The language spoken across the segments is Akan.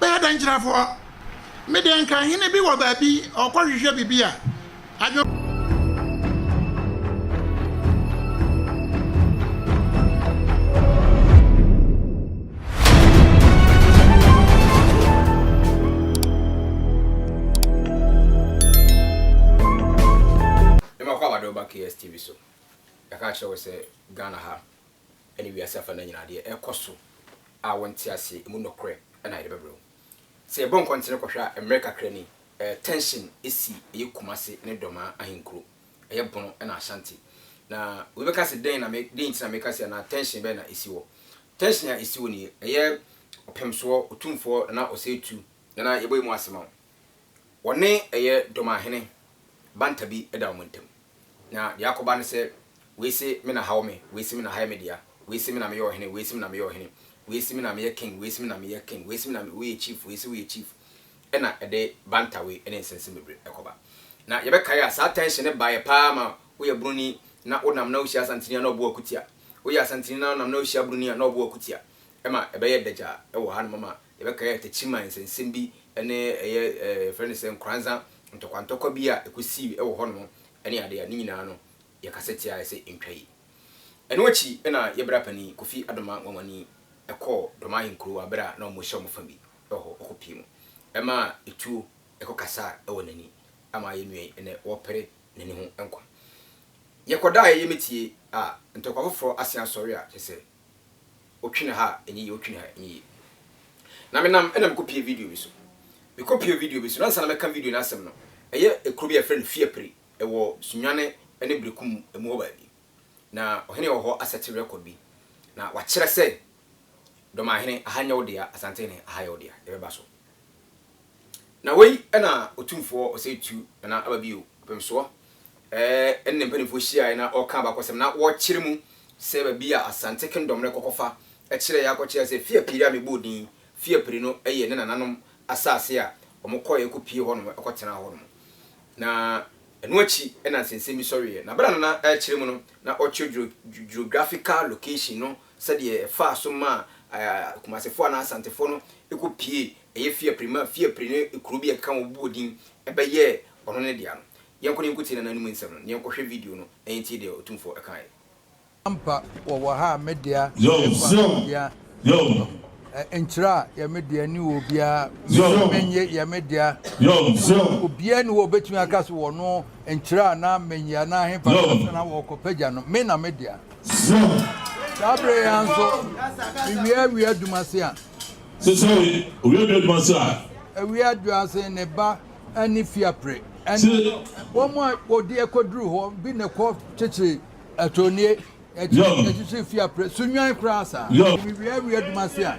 Bɛyɛ dɛn kyerɛfoɔ? Me deɛ nka hene bi wɔ baabi ɔkɔ hwehwɛ biribi a adwen. Yɛma kɔ abade wo ba KSTV so yɛka kyerɛ wo sɛ Ghana ha ne wiase afanan nyinaa deɛ ɛrekɔ so a wonte aseɛ, ɛmu nɔkorɛ na yɛde bɛbrɛ wo. Sɛ yɛbɔ nkɔntene kɔhwɛ a, mmerɛ kakra ni, tension si, ɛyɛ Kumasi ne Dormaa ahenkuro, ɛyɛ Bono na Ashanti. Na obi bɛka sɛ dɛn na me, dɛn nti na meka sei anaa tension bɛn na ɛsi hɔ? Tension a ɛsi hɔ nie, ɛyɛ Ɔpemsoɔ, Otumfoɔ Nana Osei Tutu, Nana yɛbɔ yi mu ase ma wo. Wɔne ɛyɛ Domahene banta bi da wɔn ntam. Na deɛ akɔba ne sɛ, wei se me na ha wɔ me, wei se me na ha yɛ me dea, wei se me na meyɛ ɔhene, wei se me na meyɛ ɔhene, wei se me na meyɛ king, wei se me na meyɛ king, wei se me na me, woyɛ chief, wei se woyɛ chief. Ɛna ɛde banta wei ne nsɛnsɛm bebree kɔba. Na yɛbɛkae a, saa tension no baeɛ pa ara ma woyɛ Buroni na wonam na wohyia Asanteni a na ɔbɔ wo akutia, woyɛ Asanteni na wonam na wohyia Buroni a na ɔbɔ wo akutia. Ɛma ɛbɛyɛ dagyaa wɔ hanom ama Yɛbɛkae Atakyiman nsɛnsɛm bi ne ɛyɛ yɛfrɛ no sɛ nkoranza ntɔkwantɔkwa bi a ɛkɔsii wɔ hɔnom ne adeɛ a ne nyinaa no yɛkasa tiaeɛ sɛ ɛntwa yi. Ɛno akyi na yɛ Brapanin Kofi Adomah Nwanwani kɔɔ Dɔmahe Nkurowa berɛ a na wɔhyɛ wɔn fa bi wɔ hɔ ɔkɔpie mu maa ɛtuo kɔkasaa wɔ n'ani ama yɛ nua yi ɛnɛ wɔrepere n'ani ho nkwa. Yɛkɔdaeɛ yɛmɛtie a ntɔkwa foforɔ asen asɔre a kyerɛ sɛ Otwene ha a ɛnyɛ yie, otwene ha a ɛnyɛ yie. Na menam ɛna mekɔpie video bi so. Mekɔpie video bi so no, ansa na mɛka video no asɛm no, ɛyɛ kuro bi a yɛfrɛ no Fiapri, ɛwɔ Sunyane ne Berekum mu hɔ baabi. Na ɔhene wɔ hɔ asɛte record bi, na wakyerɛ sɛ Dɔmahene, aha nyɛ wo dea, Asantehene, aha yɛ wo dea, yɛbɛba so. Na wei na Otumfoɔ Ɔsɛetuo Nana aba bio, Apemsoɔ, ɛne ne mpanimfoɔ hyiaeɛ na ɔreka abakɔsɛm na wɔrekyere mu sɛ baabi a Asante Kingdom no rekɔkɔfa kyerɛeɛ akɔkyerɛ sɛ Fiapiri a mebɔɔ din Fiapiri no yɛ ne nananom asase a wɔkɔeɛ kɔpie hɔnom kɔtenaa hɔnom. Na ɛno akyi na nsɛnsɛm bi sɔreeɛ. Na berɛ a Nana rekyere mu no, na ɔkyerɛ geographical location no sɛdeɛ ɛfaa so maa Kumasefoɔ anaa Asantefoɔ no kɔ piee ɛyɛ Fiapre maa Fiapre ne kuro bi a ɛkeka ho bɔɔ din bɛyɛɛ ɔno ne dea no. Yɛnkɔ na yɛnkɔtie n'ananum nsɛm no, na yɛnkɔhwɛ video no na yɛntie deɛ Otumfoɔ kaeɛ. Ampa wɔwɔ ha a me dea ɛfa obia ho nkyerɛ a yɛ me dea ne wɔ obia menye menye yɛ me dea so obia ni hɔ obetumi aka so wɔ no nkyerɛ a na menye anaa hefa na sɛ na wɔkɔ pagya no me na me dea. Zion. Saa bere yi ara nso, miwie awia adwuma ase a. Sesawe, owie awia adwuma ase a. Awia adwo ase, ne ba ani fi apere. Se. Wɔn a wɔde akoduru hɔ bi na ɛkɔ kyekyere atonnie, ɛkyere, ɛkyekyere fi apere so nwan koraa saa. Zion. Miwie awia adwuma ase a.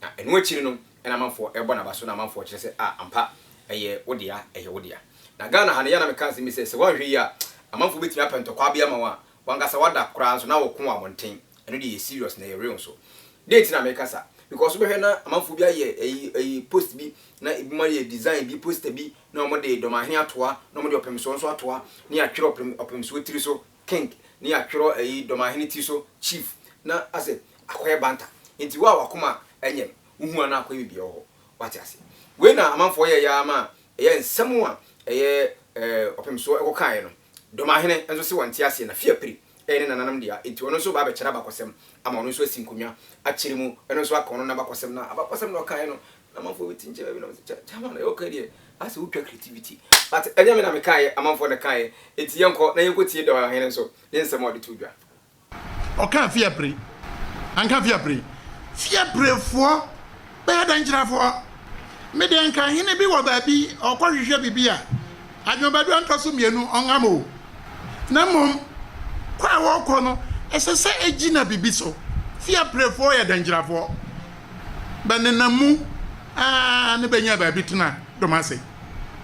Na ɛno akyiri no na amanfoɔ rebɔ n'aba so na amanfoɔ kyerɛ sɛ ah ampa ɛyɛ wo dea ɛyɛ wo dea. Na Ghana ha no yɛ a na meka asɛm bi sɛ sɛ woanhwɛ yie a amanfoɔ bɛtumi apɛ ntɔkwa bi ama wo a wankasa wada koraa nso na woko wɔ abɔnten. Ɛno deɛ ɛyɛ serious na ɛyɛ real nso. Dɛn nti na meka saa? Because wobɛhwɛ na amanfoɔ bi ayɛ ɛyi ɛyi post bi na ɛbinom ayɛ design bi poster bi na wɔde Dɔmahene atoa na wɔde Ɔpemsoɔ nso atoa ne atwerɛ Ɔpem Ɔpemsoɔ tiri so King ne atwerɛ ɛyi Dɔmahene ti so Chief na asɛ akɔyɛ Banta nti wo a wakoma ɛnyɛm wo hu anaa akɔyɛ bibia wɔ hɔ wate ase wei na amanfoɔ yɛɛyɛ ara ma ɛyɛ nsɛm a ɛyɛ ɛɛ ɔpemsoɔ ɛkɔ kaeɛ no Dɔmahene nso se wɔnte aseɛ na fie apire ɛyɛ ne nananom dea nti ɔno nso ba abɛkyɛrɛ abakɔsɛm ama ɔno nso asi nkonnwa akyere mu ɛno nso aka ɔno nabakɔsɛm na abakɔsɛm na ɔkaeɛ no Amanfoɔ bɛti nkyɛ baabi na wɔn sɛ kyama na yɛwɔ kan deɛ asɛ wotwa creativity but ɛnyɛ me na mekaeɛ amanfoɔ na kaeɛ enti yɛnkɔ na yɛnkɔ tie dɔha hene nso ne nsɛm a ɔde to dwa. Ɔkaa fiapre anka fiapre fiaprefoɔ bɛyɛ dɛn kyerɛfoɔ me deɛ nka hene bi wɔ baabi ɔkɔ hwehwɛ biribi a adwomabadua ntɔ so mmienu ɔnham o na mmom kɔ a wɔkɔ no ɛsɛ sɛ ɛgyina biribi so fiaprefoɔ yɛ dɛn kyerɛfoɔ bɛnenam mu ara na benya baabi tena dom ase,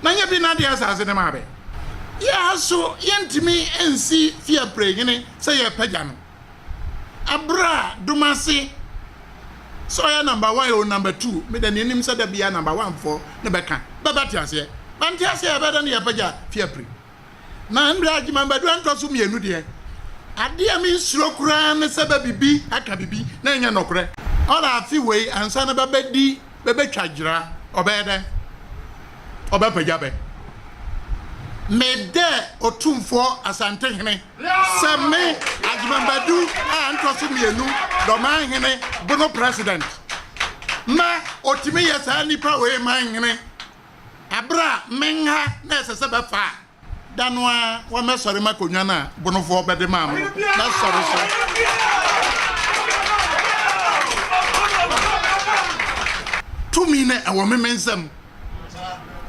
na nyɛ bi na ade asase no maa bɛ. Yɛn ara so yɛrentumi nsi fi apre hene sɛ yɛrepagya no, bere a dom ase sɛ ɔyɛ number one oo, number two, meda nea onim sɛ da biara number one foɔ no bɛka. Bɛbɛte aseɛ? Bɛnte aseɛ a, ɛbɛyɛ dɛn na yɛapagya fi apre? Na ndɛ Agyeman Badu Antɔso Mmienu deɛ, adeɛ a me nsuro koraa ne sɛ bɛ bibi aka bibi na ɛnyɛ nɔkorɛ. Ɔda afe wei ansa na bɛ bɛ di bɛ bɛ twa gyera, ɔbɛyɛ dɛn? Ɔbɛ pagya bɛ? Me dɛ Otumfoɔ Asante Hene sɛ me Agyeman Badu a Antɔso Mmienu Dɔman Hene bono President ma otumi yɛ saa nipa wei man hene Aber a menha na ɛsɛ sɛ bɛfa a, da no ara wa mɛsɔre makɔnwa no a bonofoɔ bɛde maa me no, mɛsɔre so. Tumi no ɛwɔ me me nsam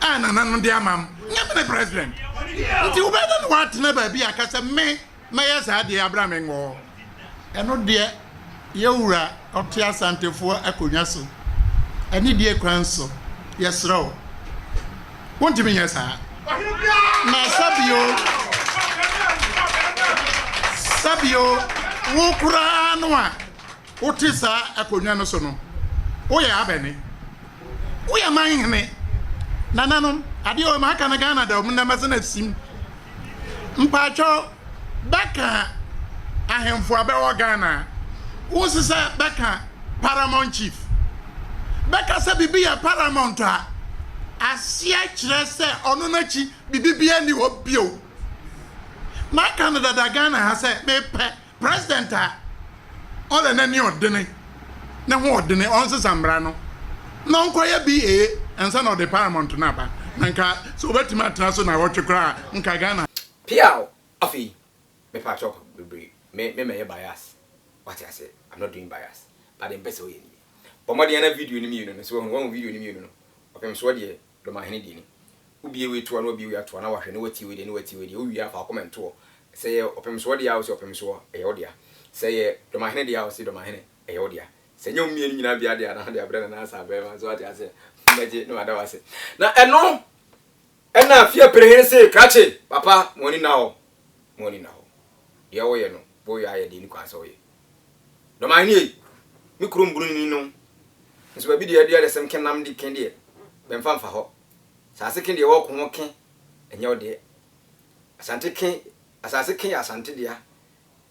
a nananom de ama m'. Nyɛ me ne President nti wobɛyɛ dɛn na woatena baabi a ka sɛ me, mɛyɛ saa deɛ abra me ngɔɔ. Ɛno deɛ yɛ wura ɔte asantefoɔ akonnwa so anidie kwan so yɛsrɛ wo wontumi nyɛ saa na sɛbio sɛbio wo koraa no a Wote saa akonnwa no so no, woyɛ abɛne? Woyɛ man hene? Nananom, adeɛ wei maka no Ghana da mu nnɛ mɛsɛ no asim. Mpaatwɔ, bɛka ahemfo a bɛwɔ Ghana a, wonsi sɛ bɛka Paramount Chief? Bɛka sɛ biribi yɛ Paramount a, aseɛ kyerɛ sɛ ɔno no akyi biribi biara nni hɔ bio. Maka no dada Ghana ha sɛ mepɛ President a ɔda n'ani ɔdene, ne ho ɔdene, ɔnsesa mmara no na ɔnkɔyɛ BA ansa na ɔde paramount no aba. Na nka sɛ ɔbɛtumi atena so naawɔtwe koraa a, nka Ghana. Peaw! Afei mepa kyɛw pa bebree, me me mɛyɛ bias, wate aseɛ, I'm not doing bias, but deɛ mepɛ sɛ woyɛ nie, bɔ mmɔden na video no mmienu no, sɛ wahu, wahu video no mmienu no, ɔpemsoɔ deɛ Dɔmahene deɛ ni. Wo bie wei toɔ na wabie wei atoa na wahwɛ na watie wei deɛ na watie wei deɛ, wo wie a fa wo comment toɔ. Sɛ ɛyɛ ɔpemsoɔ deɛ a wo se ɔpemsoɔ, ɛyɛ wo dea. Sɛ ɛyɛ dɔmahene deɛ a wo se dɔmahene, ɛyɛ wo dea. Sɛ ɛnyɛ wɔn mmienu nyinaa biara deɛ a na wode abrɛ Nana Asa Abrɛman. So wate aseɛ? Mɛgye na mada wo ase. Na ɛno ɛna Afia Perehene see krakye, papa mo ani nna hɔ, mo ani nna hɔ. Deɛ woyɛ no, boy ayɛ deɛ ɛni kwan sɛ ɔyɛ. Dɔmayɛ no yei, me kuro mbunu ni no, nso baabi deɛ yɛde adesɛm ke nam de ke deɛ, bɛmfa mfa hɔ. Asase ke deɛ wɔko ho ke, ɛnyɛ wo deɛ. Asante ke, asase ke yɛ Asante dea.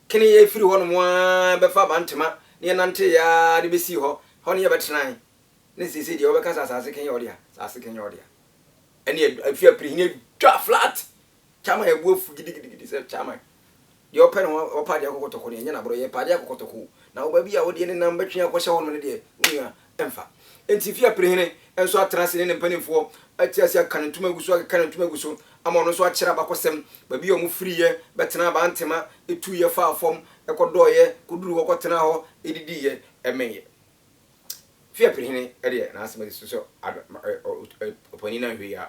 Ke no yɛfiri hɔnom ara bɛfa Abantema ne yɛnanteeɛ ara de bɛsii hɔ, hɔ ne yɛbɛtenae. Ne seesei deɛ wobɛka sɛ asase ke yɛ wo dea, asase ke nyɛ wo dea. Ɛnneɛ, afie apirihini adwa flat, Chairman yɛ bo afu gidigidigidi sɛ chairman deɛ ɔpɛ na ɔpa adeɛ akɔkɔtɔkɔ no ɛnyɛ n'aborɔ yɛ pa adeɛ akɔkɔtɔkɔ o na ɔba bi a ɔdeɛ ne nam bɛtwe akɔhyɛ hɔ nom no deɛ wo nua ɛmfa nti fie apirihene nso atena ase ne ne mpanimfoɔ ati ase aka ne ntoma agu so akeka ne ntoma agu so ama ɔno nso akyerɛ abakɔsɛm baabi a ɔmo firiiɛ bɛtena abantema etuiɛ faa fam ɛkɔdɔɔyɛ kɔduru hɔ kɔtenaa hɔ edidiiɛ ɛmeeɛ fie apirihene deɛ n'asɛm asi so sɛ ɔpanin no anhwɛ yi a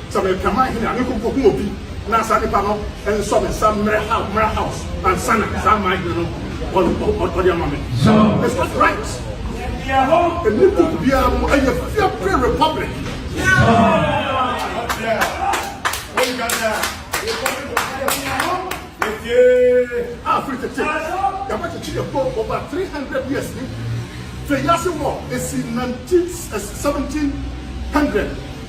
Sɛ merepɛ m'ahene a, menkɔ nkohu obi na saa nipa no nsɔ me nsa mmrɛ mmra house ansa na saa m'ahene no ɔde ama me. It's not right. Ɛnni book biara mu. Ɛyɛ fear free republic. A firi tete yɛabɛkyekye yɛ po over 300 years ni. Fɛ yi ase wɔ esi 19 1700.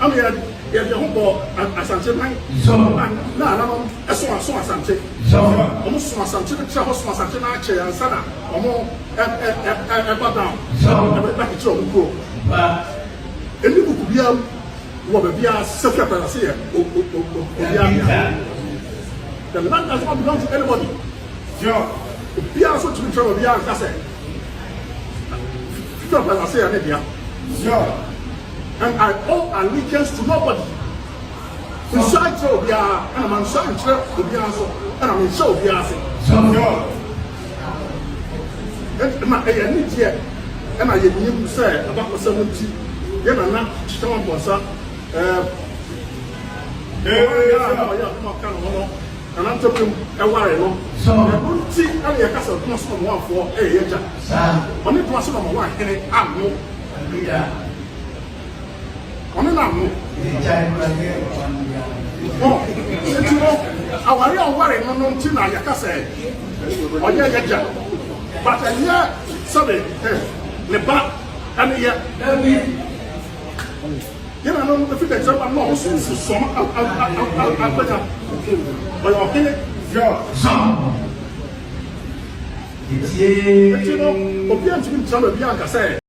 Ama yɛ yɛde yɛn ho bɔ Asante man so a na ananom so aso Asante. Sɛ wɔn so Asante no kyerɛ hɔ so Asante no akyɛ ansa na wɔn ɛba down ɛbɛ ba kyekyere wɔn kuro. Ɛni buku biara mu wɔ baabi a Safi Akwara se yɛ obiara bea. The land does not belong to anybody. Obiara so tumi kyerɛ obiara nka sɛ Safi Akwara se yɛ ne dea. and I owe allegiance to nobody mensuaa nkyerɛ obiara ɛna mansuaa nkyerɛ obiara nso ɛna menhyɛ obiara ase ɛna ɛyɛ anigyeɛ ɛna yɛnim sɛ abakɔsɛm nti yɛ nana kyekyɛ wampɔnsa ɛɛ ɔyɛ akoma ka ne ho no nana ntɔpem ɛware no ɛno nti ɛna yɛka sɛ doma so na ɔmo afoɔ ɛyɛ yɛgya ɔne doma so na ɔmo ahene ano Ɔbea ɔne n'ano. Egyae kura yɛ ɔba no bia no. Ɔ nti no aware a ɔware no no nti na yɛka sɛ ɔyɛ yɛgya but ɛnyɛ sɛbe eh, ne ba ɛne yɛ. Dabi. Yɛn ano no efi dɛkyɛ ba no ɔso nsi sɔm agbanya ɔyɛ ɔhene. Yɔ sɔm. Etie. Eti no obi antumi nkyerɛ baabi anka sɛ.